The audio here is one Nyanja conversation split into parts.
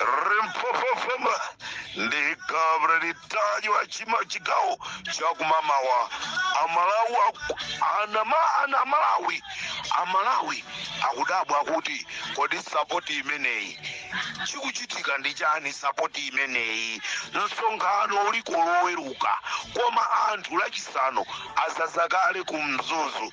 rimpopofoma ndi Kabula litajwa kuchigawo chakumamawa amalawi aku- anama ana amalawi amalawi akudabwa kuti kodi sapoti imeneyi chikuchitika ndi chani sapoti imeneyi msonkhano uliko loweruka koma anthu lachisanu adzadza kale ku mzuzu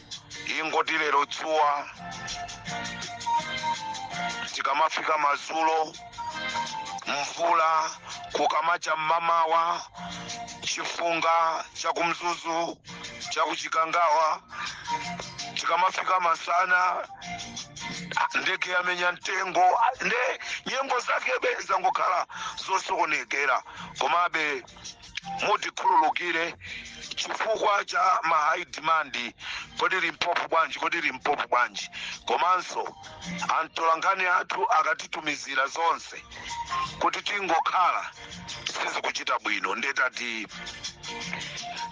ingoti lero dzuwa tikamafika madzulo mvula kukamacha mmamawa chifunga chakumzuzu chakuchikangawa tikamafika masana ndege yamenya mtengo nde nyengo zake zangokhala zosokonekera komabe mutikhululukire chifukwa cha ma high demand kodi limpopo bwanji kodi limpopo bwanji komanso atolankhani athu akatitumizira zonse kuti tingokhala sizikuchita bwino nde tati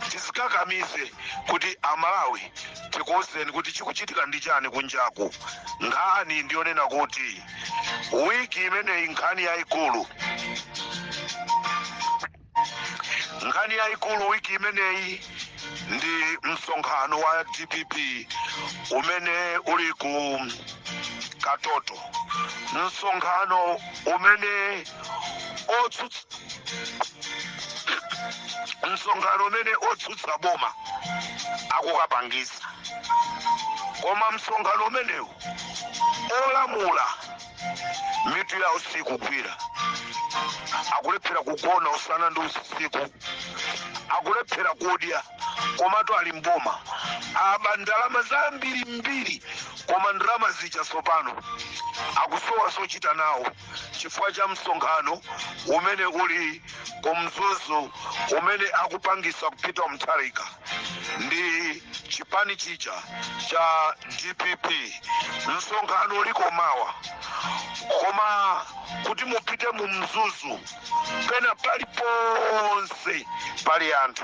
tizikakamize kuti amalawi tikuwuzeni kuti chikuchitika ndi chani kunjaku nkhani ndiyonena kuti wiki imeneyi nkhani yayikulu nkhani yayikulu wiki imeneyi ndi msonkhano wa dpp umene uli ku katoto msonkhano umene otsutsa msonkhano umene otsutsa boma akukapangisa koma msonkhano umenewu olamula mitu yawo sikugwira akulephera kugona usana ndi usiku akulephera kudya komatu ali mboma aba ndalama zambirimbiri koma ndalama zija tsopano akusowa zochita nawo chifukwa cha msonkhano umene uli ku mzuzu umene akupangisa Peter Mutharika ndi chipani chija cha dpp msonkhano uliko mawa koma kuti mupite mu mzuzu pena paliponse pali anthu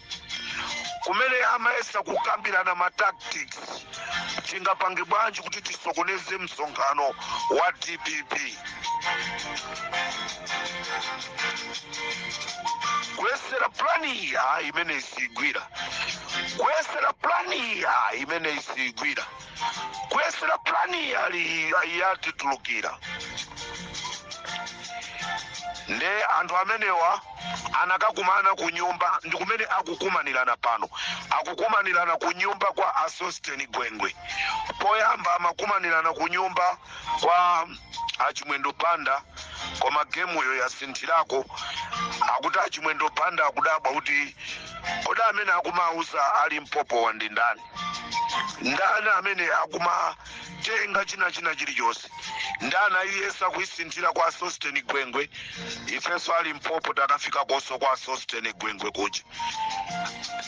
kumene amayesa kukambirana ma tactics tingapange bwanji kuti tisokoneze msonkhano wa dpp kuyesera plani iyi ayi imeneyi sigwira kuyesera plani iyi ayi imene isigwira kuyesera pulani yali yatitulukira nde anthu amenewa anakakumana ku nyumba ndi kumene akukumanirana pano akukumanirana ku nyumba kwa a sosteni gwengwe poyamba amakumanirana ku nyumba kwa a chimwendo banda koma gemuyo yasinthirako akuti a chimwendo banda akudabwa kuti kodi amene akumauza a limpopowa ndi ndani ndani amene akumatenga china china chilichonse nde anayiyesa kuyisinthira kwa sosteni gwengwe ifenso a limpopo takafika konso kwa sosteni gwengwe kuja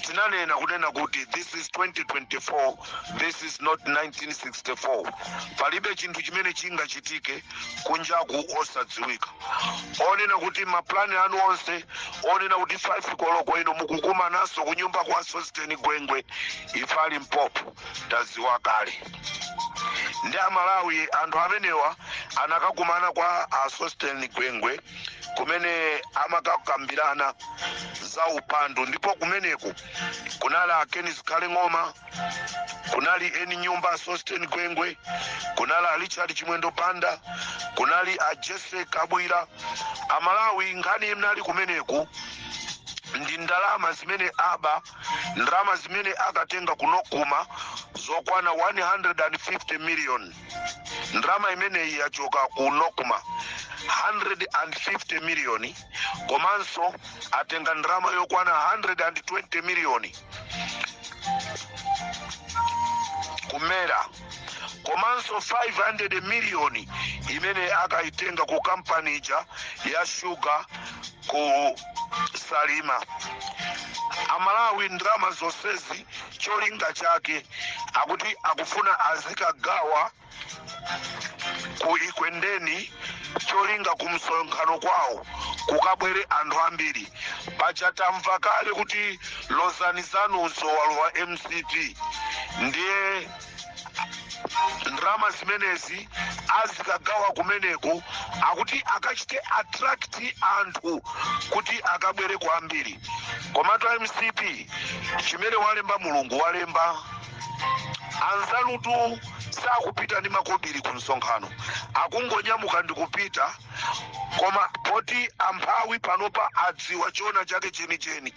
tinanena kunena kuti this is 2024 this is not 1964 palibe chinthu chimene chingachitike kunjaku osadziwika onena kuti mapulani anu onse onena kuti 5 koloko ino mukukumananso kunyumba kwa sosteni gwengwe ife a limpopo taziwa kale ndi amalawi anthu amenewa anakakumana kwa a sosteni gwengwe kumene amakakambirana za upandu ndipo kumeneku kunali a ken zikhale ng'oma kunali eni nyumba a sosten gwengwe kunali a richard chimwendo banda kunali a jessie kabwila amalawi nkhani inali kumeneku ndi ndalama zimene aba ndalama zimene akatenga ku nocma zokwana 150 million ndalama imeneyi yachoka ku nocma 150 miliyoni komanso atenga ndalama yokwana 120 miliyoni ku mera komanso 500 miliyoni imene akayitenga ku kampani ija ya shuga ku salima amalawi ndalama zonsezi cholinga chake akuti akufuna azikagawa ku ekwendeni cholinga ku msonkhano kwawo kukabwere anthu ambiri paja tamva kale kuti lozani zanunso walowa mcp ndiye ndalama zimenezi azikagawa kumeneko akuti akachite attract anthu kuti akabwere kwambiri komatu a mcp chimene walemba mulungu walemba anzanutu sakupita ndi makobiri ku msonkhano akungonyamuka ndi kupita koma poti amphawi panopa adziwa choona chake chenicheni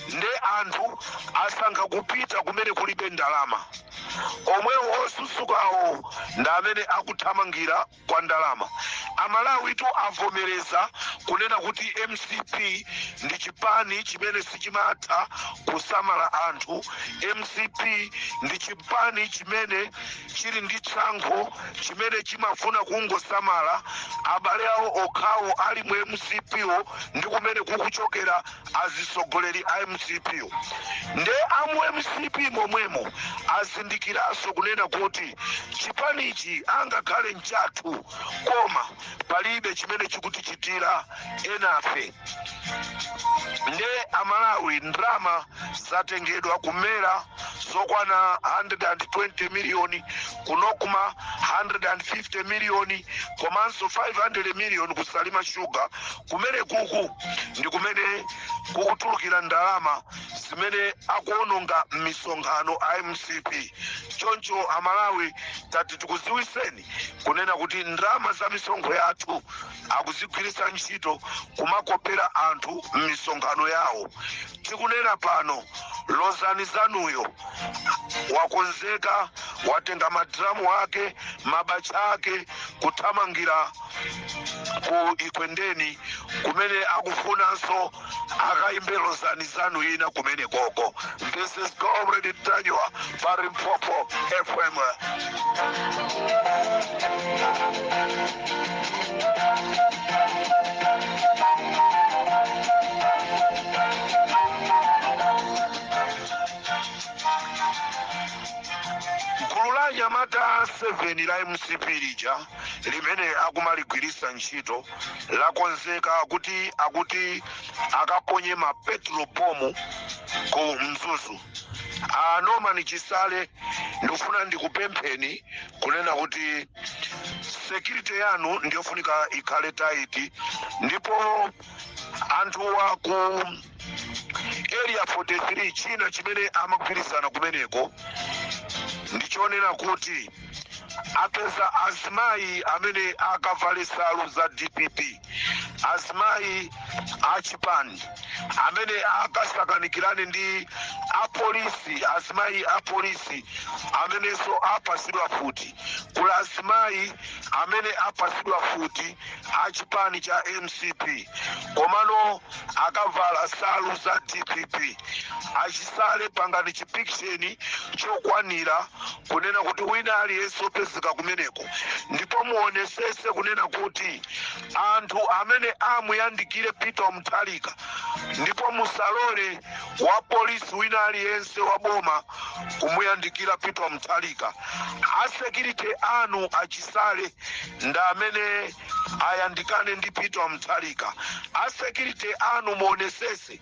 nde anthu asankha kupita kumene kulibe ndalama omwewo osusukawo ndi amene akuthamangira kwa ndalama. Amalawitu avomereza kunena kuti mcp ndi chipani chimene sichimatha kusamala anthu. Mcp ndi chipani chimene chili ndi tsankho, chimene chimafuna kungosamala abale awo okhawo ali mu mcp wo ndi kumene kukuchokera azitsogoleri a mcp nde amu mcp momwemo azindikiranso kunena kuti chipanichi angakhale mchathu koma palibe chimene chikutichitira enafe nde amalawi ndalama zatengedwa ku mera zokwana 120 miliyoni ku nocma 150 miliyoni komanso 500 miliyoni ku salima sugar Kumenekuku ndi kumene kukutulukira ndalama zimene akuononga m'misonkhano a mcp. Choncho Amalawi tati tikudziwitseni kunena kuti ndalama za misonkho yathu akuzigwiritsa ntchito kumakopera anthu m'misonkhano yawo. Tikunena pano lozani zanuyo wakonzeka watenga ma drum ake mabaja ake kuthamangira ku ekwendeni kumene akufunanso akaimbe lozani zanu ina kumeneko ko this is comrade ntanyiwa pa limpopo fm gulu la anyamata a 7 la mcp lija limene akumaligwiritsa ntchito lakonzeka kuti akuti akaponye ma petrol bomb ku mzuzu a norman chisale ndikufuna ndikupempheni kunena kuti security yanu ndiyofunika ikhale tight ndipo anthuwa ku area 43 china chimene amagwirizana kumeneko ndichonena kuti apeza azimayi amene akavale nsalu za dpp azimayi achipani amene akasakanikirane ndi apolisi azimayi apolisi amenenso apasidwa futi kula azimayi amene apasidwa futi achipani cha mcp komano akavala nsalu za dpp achisale pangani chipikisheni chokwanira kunena kuti wina aliyense opezeka kumeneko ndipo muonesese kunena kuti anthu amene amuyandikire peter mutharika ndipo musalole wa polisi wina aliyense wa boma kumuyandikira peter mutharika asekirite anu achisale ndi amene ayandikane ndi peter mutharika asekirite anu muonesese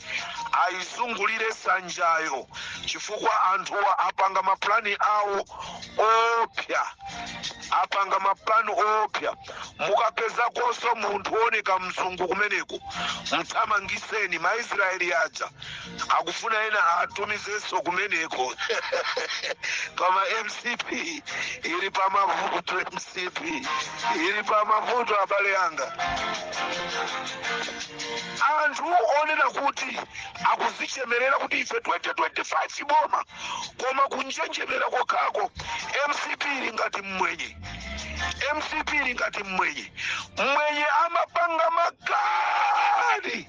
ayizungulire sanjayo chifukwa anthuwa apanga mapulani awo oopsa apanga mapulani oopsa mukapezakonso munthu wooneka mzungu kumeneko mthamangiseni maisraeli aja akufuna ena atumizenso kumeneko koma mcp ili pa mavuto mcp ili pa mavuto abale anga anthu onena kuti akuzichemerera kuti ife 2025 boma koma kunjenjemera kokhako mcp ili ngati mmwenye mcp ili ngati mmwenye mmwenye amapanga makani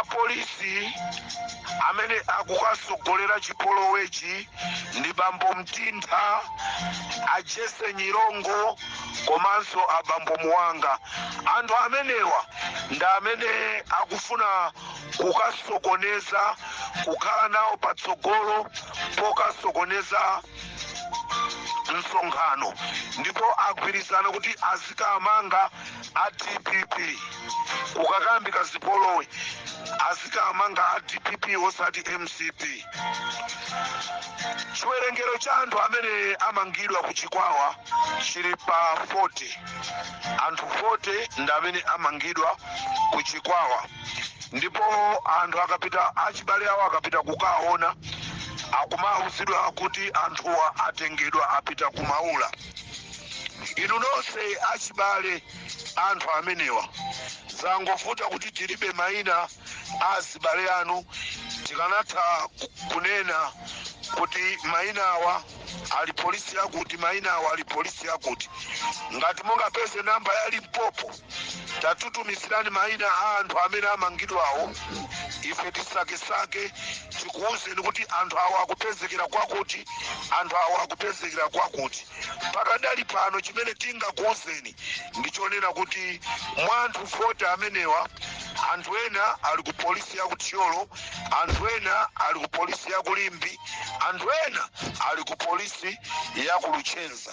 apolisi amene akukatsogolera chipolowechi ndi bambo mtintha ajese nyirongo komanso abambo muwanga anthu amenewa ndi amene akufuna kukasokoneza kukhala nawo patsogolo pokasokoneza msonkhano ndipo agwirizana kuti azikamanga a dpp kukayambika zipolowe azikamanga a dpp osati mcp chiwerengero cha anthu amene amangidwa ku chikwawa chili pa 40 anthu 40 ndi amene amangidwa ku chikwawa ndipo anthu akapita achibale awo akapita kukaona akumauzidwa kuti anthuwa atengedwa apita kumaula inu nonse achibale anthu amenewa zangovuta kuti tilibe maina azibale anu tikanatha ku- kunena kuti maina awa ali polisi yakuti maina awa ali polisi yakuti ngati mungapeze namba ya limpopo tatutumizirani maina a anthu amene amangidwawo ife tisakesake tikuwuzeni kuti anthu awo akupezekera kwakuti anthu awo akupezekera kwakuti pakadali pano chimene tingakuwuzeni ndi chonena kuti mwa anthu 40 amenewa anthu ena ali ku polisi ya ku thyolo anthu ena ali ku polisi ya ku limbe anthu ena ali ku polisi ya ku luchenza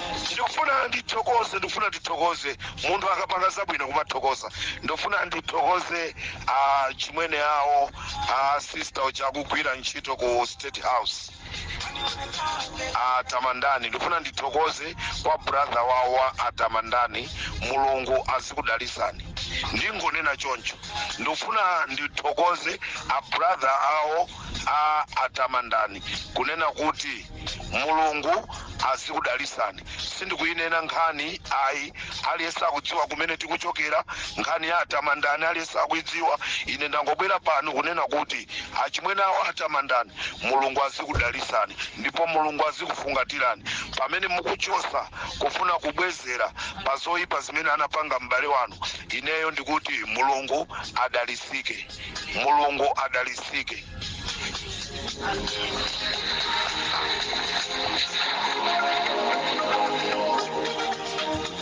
Ndikufuna ndithokoze ndikufuna ndithokoze munthu akapanga zabwino kumathokoza ndikufuna ndithokoze a chimwene awo a sister uja akugwira ntchito ku state house atamandani ndikufuna ndithokoze kwa brother wawo wa atamandani mulungu azikudalisani ndingonena choncho ndikufuna ndithokoze a brother awo a atamandani kunena kuti mulungu azikudalisani sindikuyinena nkhani ayi aliyense akudziwa kumene tikuchokera nkhani ya atamandani aliyense akuyidziwa ine ndangobwera pano kunena kuti achimwene awo atamandani mulungu azikudalisani ndipo mulungu azikufungatirani pamene mukuchosa kufuna kubwezera pa zoyipa zimene anapanga m'bale wanu ineyo ndikuti mulungu adalisike mulungu adalitsike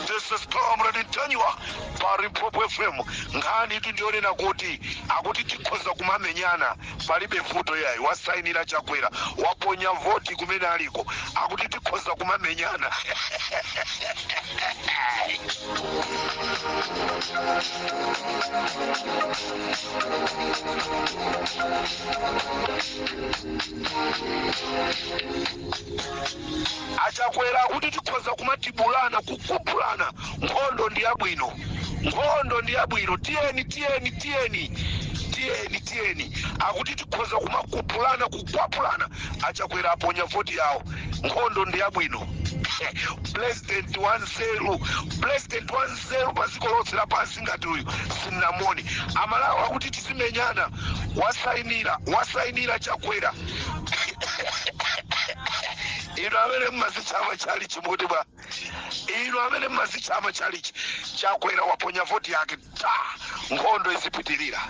This is Comrade Ntanywa pa Limpopo FM. Nkhanitu ndi yonena kuti akuti tikhoza kumamenyana palibe vuto yayi wasainira chakwera waponya voti kumene aliko akuti tikhoza kumamenyana achakwera akuti tikhoza kumatibulana kukupulana nkhondo ndi yabwino nkhondo ndi yabwino tiyeni tiyeni tiyeni tiyeni tiyeni akuti tikhoza kumakupulana kukwapulana achakwera aponya voti yawo nkhondo ndi yabwino pulezidenti wanzeru pulezidenti wanzeru wanzeru pa dziko lonse lapansi ngati uyu sindinamuone amalawi akuti tizimenyana wasainira wasainira chakwera inu amene mmazitcha amachalichi mukuti bwa inu amene mmazitcha amachalichi chakwera waponya voti yake ati nkhondo izipitirira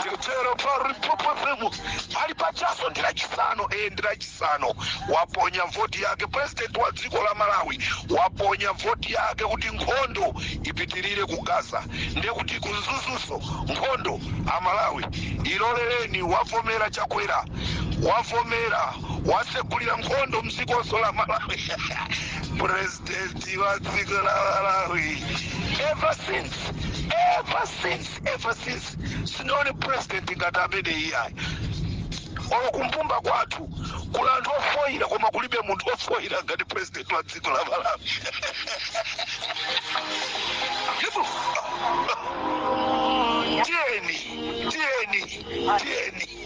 ndikutero pa Limpopo FM pali pachaso ndi lachisanu e ndi lachisanu waponya voti yake president wa dziko la malawi waponya voti yake kuti nkhondo ipitirire ku gaza ndiye kuti ku Mzuzunso nkhondo amalawi ilolereni wavomera chakwera wavomera wasegulira nkhondo mdzikonso la malawi president wa dziko la malawi ever since ever since ever since sindinaone president ngati ameneyi ayi olo kumbumba kwathu kuli anthu ofoyira koma kulibe munthu ofoyira ngati president wa dziko la malawi Ndipo, tiyeni tiyeni tiyeni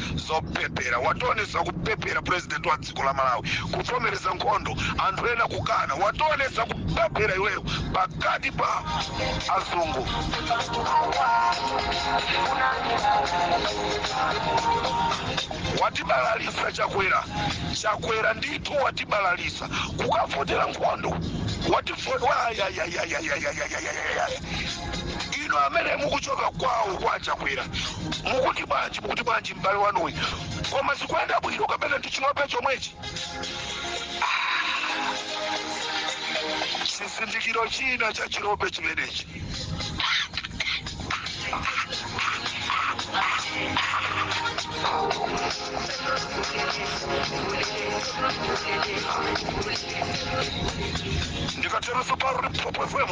zopepera wationesa kupepera president wa dziko la malawi kuvomereza nkhondo anthu ena kukana wationesa kupepera iweyo pakati pa azungu watibalalisa chakwera chakwera ndithu watibalalisa kukavotera nkhondo ino amene mukuchoka kwawo kwa chakwera mukuti bwanji mukuti bwanji m'bale wanuyi koma zikuyenda bwino kapena ndi chirope chomwechi chizindikiro china cha chirope chimenechi ndikateroso pa Limpopo FM